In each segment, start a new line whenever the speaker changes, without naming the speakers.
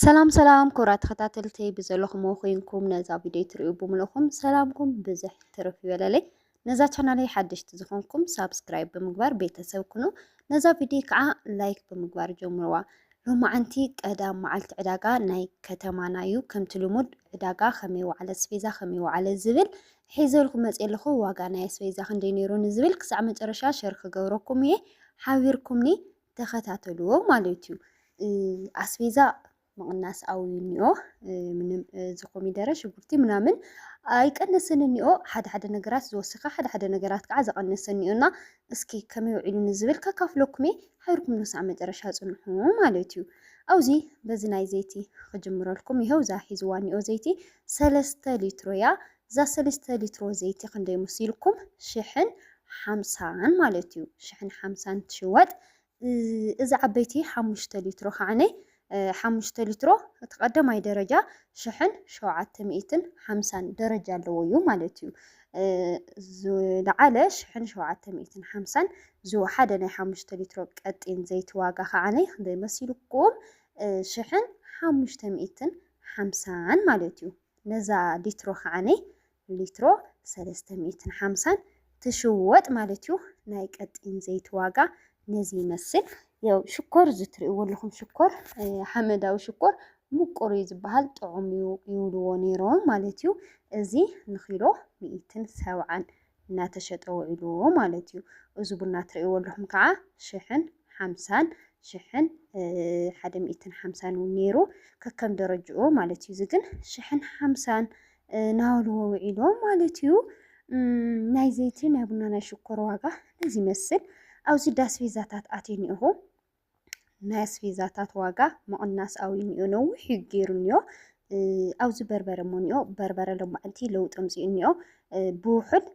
ሰላም ሰላም ክቡራት ተኸታተልቲ ብዘለኹምዎ ኮይንኩም ነዛ ቪድዮ ትሪኡ ብምለኹም ሰላምኩም ብዝሕ ትርፍ ይበለለይ። ነዛ ቻናለይ ሓደሽቲ ዝኾንኩም ሳብስክራይብ ብምግባር ቤተሰብ ኩኑ። ነዛ ቪድዮ ከዓ ላይክ ብምግባር ጀምርዋ። ሎማዓንቲ ቀዳም መዓልቲ ዕዳጋ ናይ ከተማና እዩ። ከምቲ ልሙድ ዕዳጋ ከመይ ዋዕለ ስፔዛ ከመይ ዋዕለ ዝብል ሒዘልኩ መፅ ኣለኹ። ዋጋ ናይ ኣስቤዛ ክንደይ ነይሩ ንዝብል ክሳዕ መጨረሻ ሸር ክገብረኩም እየ ሓቢርኩምኒ ተኸታተልዎ ማለት እዩ። ኣስቤዛ ምቕናስ ኣውዩ እኒኦ ምንም እዚ ኮሚደረ ሽጉርቲ ምናምን ኣይቀነስን እኒኦ ሓደ ሓደ ነገራት ዝወሰኸ ሓደ ሓደ ነገራት ከዓ ዝቐነሰ እኒኦ እና እስኪ ከመይ ውዒሉ ንዝብል ከካፍለኩም እየ ሓቢርኩም ንሳዕ መጨረሻ ፅንሑ ማለት እዩ ኣብዚ በዚ ናይ ዘይቲ ክጅምረልኩም ይኸው እዛ ሒዝዋ እኒኦ ዘይቲ ሰለስተ ሊትሮ እያ እዛ ሰለስተ ሊትሮ ዘይቲ ክንደይ ሙሲልኩም ሽሕን ሓምሳን ማለት እዩ ሽሕን ሓምሳን ትሽወጥ እዚ ዓበይቲ ሓሙሽተ ሊትሮ ከዓኒ ሓሙሽተ ሊትሮ እቲ ቀዳማይ ደረጃ ሽሕን ሸውዓተ ሚእትን ሓምሳን ደረጃ ኣለዎ እዩ ማለት እዩ ዝለዓለ ሽሕን ሸውዓተ ሚእትን ሓምሳን ዝወሓደ ናይ ሓሙሽተ ሊትሮ ቀጢን ዘይቲ ዋጋ ከዓኒ ክንደይ መሲልኩም ሽሕን ሓሙሽተ ሚእትን ሓምሳን ማለት እዩ ነዛ ሊትሮ ከዓኒ ሊትሮ ሰለስተ ሚእትን ሓምሳን ትሽወጥ ማለት እዩ። ናይ ቀጢን ዘይቲ ዋጋ ነዚ ይመስል። ያው ሽኮር ዝትርእይዎ ኣለኹም ሽኮር ሓመዳዊ ሽኮር ምቁር እዩ ዝበሃል ጥዑም እዩ ይብልዎ ነይሮም ማለት እዩ። እዚ ንኪሎ ሚእትን ሰብዓን እናተሸጠ ውዒሉ ማለት እዩ። እዚ ቡና ትርእይዎ ኣለኹም ከዓ ሽሕን ሓምሳን ሽሕን ሓደ ሚእትን ሓምሳን እውን ነይሩ ከከም ደረጅኡ ማለት እዩ። እዚ ግን ሽሕን ሓምሳን ናበልዎ ውዒሎ ማለት እዩ። ናይ ዘይቲ ናይ ቡና ናይ ሽኮር ዋጋ እዚ ይመስል። ኣብዚ ዳስቤዛታት ኣትየ እኒኦኹ ናይ ኣስፌዛታት ዋጋ ምቕናስ ኣውዩኒኦ ነዊሕ እዩ ገይሩኒኦ ኣብዚ በርበረ ሞኒኦ በርበረ ሎማዕንቲ ለውጢ ኣምፂኡኒኦ ብውሑድ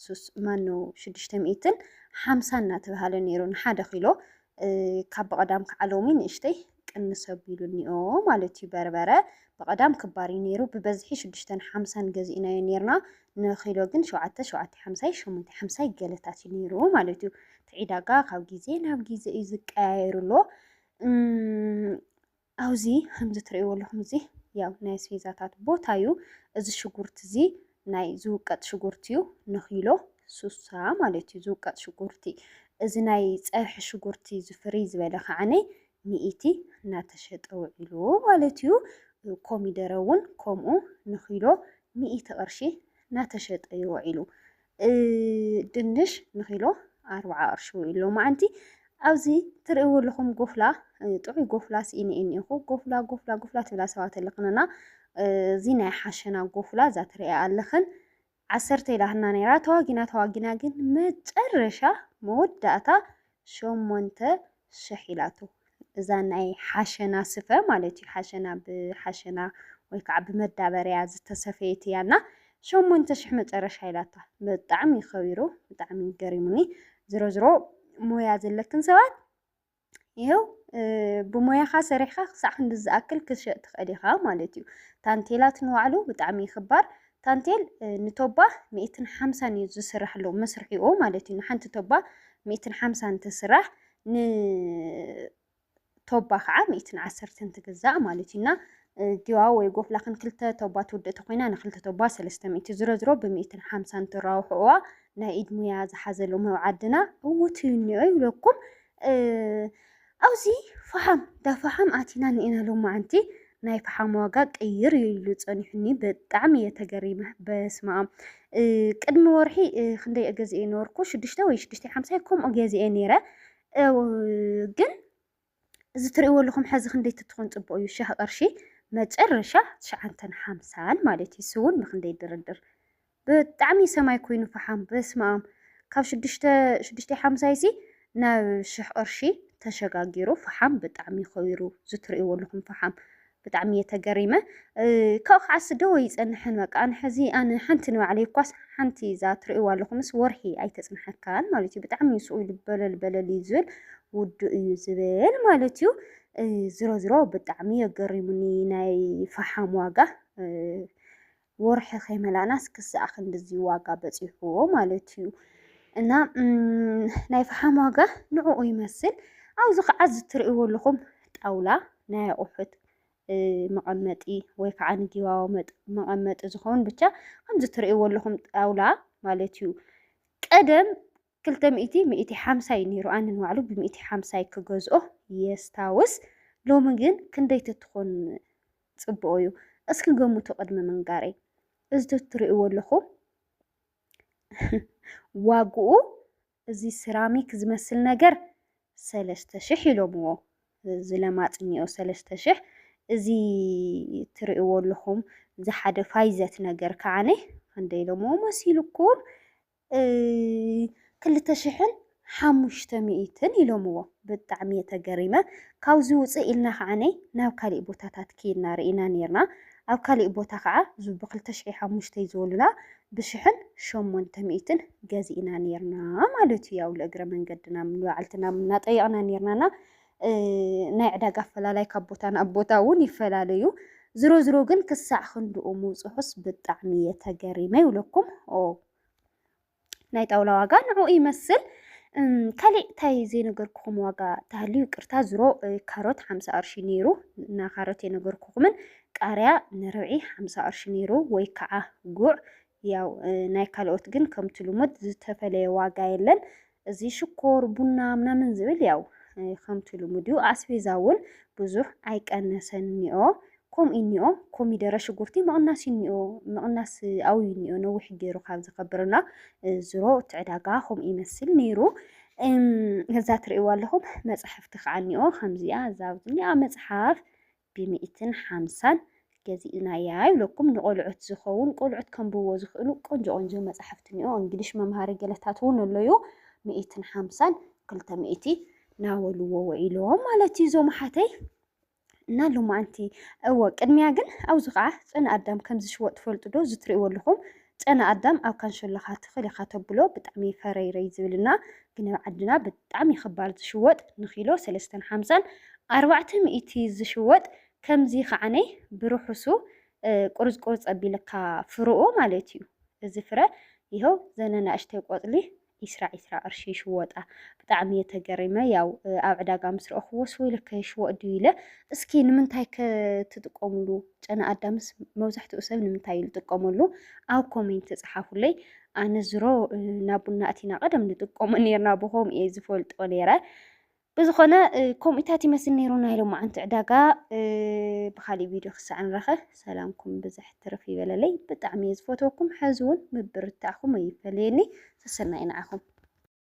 ሱስ ማኖ ሽዱሽተ ሚእትን ሓምሳ እናተባሃለ ነይሩ ንሓደ ኪሎ ካብ ብቐዳም ከዓ ሎሚ ንእሽተይ ቅንስ ኣቢሉኒኦ ማለት እዩ በርበረ ብቐዳም ክባር እዩ ነይሩ ብበዝሒ ሽዱሽተን ሓምሳን ገዚእናዮ ነይርና ንኪሎ ግን ሸውዓተ ሸውዓተ ሓምሳይ ሸሞንተ ሓምሳይ ገለታት እዩ ነይሩ ማለት እዩ እቲ ዒዳጋ ካብ ግዜ ናብ ግዜ እዩ ዝቀያየሩ ኣሎ ኣብዚ ከምዚ ትርእይዎ ኣለኹም እዚ ያው ናይ ኣስቤዛታት ቦታ እዩ እዚ ሽጉርቲ እዚ ናይ ዝውቀጥ ሽጉርቲ እዩ ንኪሎ ሱሳ ማለት እዩ ዝውቀጥ ሽጉርቲ እዚ ናይ ፀብሒ ሽጉርቲ ዝፍርይ ዝበለ ከዓነይ ሚኢቲ እናተሸጠ ውዒሉ ማለት እዩ። ኮሚደረ እውን ከምኡ ንኪሎ ሚኢቲ ቅርሺ እናተሸጠ እዩ ውዒሉ። ድንሽ ንኪሎ ኣርብዓ ቅርሺ ውዒሉ ሎማዓንቲ። ኣብዚ ትርእይዎ ኣለኹም ጎፍላ ጥዑይ ጎፍላ ስኢነ እኒኹ ጎፍላ ጎፍላ ጎፍላ ትብላ ሰባት ኣለክንና እዚ ናይ ሓሸና ጎፍላ እዛ ትርእያ ኣለኽን ዓሰርተ ኢላትና ነይራ ተዋጊና ተዋጊና ግን መጨረሻ መወዳእታ ሸሞንተ ሽሕ ኢላቶ እዛ ናይ ሓሸና ስፈ ማለት እዩ ሓሸና ብሓሸና ወይ ከዓ ብመዳበርያ ዝተሰፈየት እያ እና ሸሞንተ ሽሕ መጨረሻ ኢላታ ብጣዕሚ ከቢሩ ብጣዕሚ ገሪሙኒ ዝሮ ዝሮ ሞያ ዘለክን ሰባት ይኸው ብሞያኻ ሰሪሕካ ክሳዕ ክንዲ ዝኣክል ክትሸጥ ትኽእል ኢኻ ማለት እዩ። ታንቴላት ንባዕሉ ብጣዕሚ ይኽባር ታንቴል ንቶባ ሚእትን ሓምሳን እዩ ዝስራሕ ኣሎ መስርሒኡ ማለት እዩ። ንሓንቲ ቶባ ሚእትን ሓምሳን ትስራሕ ንቶባ ከዓ ሚእትን ዓሰርተን ትግዛእ ማለት እዩና ዲዋ ወይ ጎፍላ ክን ክልተ ቶባ ትውድእ ተኾይና ንክልተ ቶባ ሰለስተ ሚእቲ ዝረዝሮ ብሚእትን ሓምሳን ትራውሕዋ ናይ ኢድ ሙያ ዝሓዘሉ መብ ዓድና እውት እዩ እኒኦ ይብለኩም ኣብዚ ፈሓም ዳ ፈሓም ኣቲና ንኤና ሎማዓንቲ ናይ ፈሓም ዋጋ ቅይር እዩ ኢሉ ጸኒሑኒ ብጣዕሚ እየ ተገሪመ በስመ ኣም ቅድሚ ወርሒ ክንደይ እገዝኤ ነበርኩ ሽዱሽተ ወይ ሽዱሽተ ሓምሳ ከምኡ ገዝኤ ነይረ ግን እዚ ትርእይዎ ኣለኹም ሐዚ ክንደይ ትትኾን ፅቡቅ እዩ ሸህ ቅርሺ መጨረሻ ትሽዓንተን ሓምሳን ማለት እዩ ስውን ብክንደይ ድርድር ብጣዕሚ ሰማይ ኮይኑ ፈሓም በስማም ካብ ሽዱሽተ ሽዱሽተ ሓምሳይሲ ናብ ሽሕ ቅርሺ ተሸጋጊሩ ፈሓም ብጣዕሚ ኸይሩ ዝትርእይዎ ኣለኹም ፈሓም ብጣዕሚ እየ ተገሪመ ካብኡ ከዓስ ዶ ኣይጸንሕን በቃ ኣነ ሕዚ ኣነ ሓንቲ ንባዕለይ እኳስ ሓንቲ እዛ ትርእይዋ ኣለኹምስ ወርሒ ኣይተጽንሐካን ማለት እዩ ብጣዕሚ እዩ ስኡ ኢሉ በለል በለል እዩ ዝብል ውዱ እዩ ዝብል ማለት እዩ ዝሮ ዝሮ ብጣዕሚ የገሪሙኒ ናይ ፈሓም ዋጋ ወርሒ ከይመላእናስ ክሳዕ ክንድዚ ዋጋ በፂሑ ማለት እዩ እና ናይ ፈሓም ዋጋ ንዕኡ ይመስል ኣብዚ ከዓ ዝትርእይዎ ኣለኹም ጣውላ ናይ ኣቑሑት መቐመጢ ወይ ከዓ ንጊባቦ መቐመጢ ዝኸውን ብቻ ከምዚ ትርእይዎ ኣለኹም ጣውላ ማለት እዩ። ቀደም ክልተ ሚእቲ ሚእቲ ሓምሳ ዩ ኔሩ ኣነ ንባዕሉ ብሚእቲ ሓምሳ ዩ ክገዝኦ የስታውስ ሎሚ ግን ክንደይ ተትኾን ጽቡቁ ዩ እስኪ ገምቱ ቅድሚ ምንጋረይ እዚ ተትሪእዎ ኣለኹም ዋግኡ እዚ ስራሚክ ዝመስል ነገር ሰለስተ ሽሕ ኢሎምዎ እዚ ለማጽ እኒኦ ሰለስተ ሽሕ እዚ ትሪእዎ ኣለኹም ዝሓደ ፋይዘት ነገር ከዓነ ክንደይ ኢሎምዎ መሲልኩም ክልተ ሽሕን ሓሙሽተ ሚእትን ኢሎምዎ። ብጣዕሚ እየ ተገሪመ። ካብዚ ውፅእ ኢልና ከዓኒ ናብ ካሊእ ቦታታት ከይድና ርኢና ነይርና። ኣብ ካሊእ ቦታ ከዓ እዚ ብክልተ ሽሕ ሓሙሽተ ዝበሉና ብሽሕን ሸሞንተ ሚእትን ገዚእና ነይርና ማለት እዩ። ያው ለእግረ መንገድና ንባዕልትና እናጠየቕና ነይርናና ናይ ዕዳጋ ኣፈላላይ ካብ ቦታ ናብ ቦታ እውን ይፈላለ እዩ። ዝሮ ዝሮ ግን ክሳዕ ክንድኡ ምብፅሑስ ብጣዕሚ እየ ተገሪመ ይብለኩም። ናይ ጣውላ ዋጋ ንዕኡ ይመስል። ካሊእ እንታይ ዘይነገርኩኹም ዋጋ ተሃልዩ ይቅርታ። ዝሮ ካሮት ሓምሳ ቅርሺ ነይሩ እና ካሮት የነገርኩኹምን ቃሪያ ንርብዒ ሓምሳ ቅርሺ ነይሩ ወይ ከዓ ጉዕ ያው ናይ ካልኦት ግን ከምቲ ልሙድ ዝተፈለየ ዋጋ የለን። እዚ ሽኮር፣ ቡና ምናምን ዝብል ያው ከምቲ ልሙድ እዩ። ኣስቤዛ እውን ብዙሕ ኣይቀነሰን እኒኦ ከምኡ እኒኦ ኮሚደረ ሽጉርቲ ምቕናስ እኒኦ ምቕናስ ኣውዩ እኒኦ ነዊሕ ገይሩ ካብ ዝከብርና ዝሮ እቲ ዕዳጋ ከምኡ ይመስል ነይሩ። እዛ ትርእይዋ ኣለኹም መፅሕፍቲ ከዓ እኒኦ ከምዚኣ እዛ ኣብዚኣ መፅሓፍ ብሚእትን ሓምሳን ገዚእናያ ይብለኩም ንቆልዑት ዝከውን ቆልዑት ከንብብዎ ዝክእሉ ቆንጆ ቆንጆ መጻሕፍቲ እኒኦ እንግሊሽ መምሃሪ ገለታት እውን ኣሎዩ ሚእትን ሓምሳን ክልተ ሚእቲ ናበልዎ ውዒሎም ማለት እዩ እዞም ሓተይ እና ሎማዓንቲ እወ ቅድሚያ ግን ኣብዚ ከዓ ፅን ኣዳም ከም ዝሽወጥ ትፈልጡ ዶ ዝትሪእዎ ኣለኹም ጨና ኣዳም ኣብ ካንሸሎኻ ትኽል ኢኻ ተብሎ ብጣዕሚ ፈረይረይ ዝብል እና ግን ኣብ ዓድና ብጣዕሚ ኽባር ዝሽወጥ ንኪሎ ሰለስተን ሓምሳን ኣርባዕተ ሚእቲ ዝሽወጥ ከምዚ ኸዓነ ብርሑሱ ቁርጽ ቁርጽ ኣቢልካ ፍርኡ ማለት እዩ እዚ ፍረ ይሀው ዘነ ናእሽተይ ቆጽሊ ኢስራ ኢስራ ቅርሺ ይሽወጣ ብጣዕሚ እየ ተገሪመ ያው ኣብ ዕዳጋ ምስ ረእኽዎስ ወይለከ ይሽወጥ ድዩ ኢለ እስኪ ንምንታይ ከ ትጥቀምሉ ጨና ኣዳምስ መብዛሕትኡ ሰብ ንምንታይ እዩ ዝጥቀመሉ ኣብ ኮሜንት ጸሓፉለይ ኣነ ዝሮ ናብ ቡና እቲና ቀደም ንጥቀሞ ነርና ብኸምኡ እየ ዝፈልጦ ነረ ብዝኾነ ከምኡታት ይመስል ነይሩ ናይ ሎማዓንቲ ዕዳጋ ብኻሊእ ቪድዮ ክሳዕ ንራኸ ሰላምኩም ብዝሕ ትርፍ ይበለለይ ብጣዕሚ እየ ዝፈትወኩም ሕዚ እውን ምብርታዕኹም ኣይፈለየኒ ሰሰናይ ንዓኹም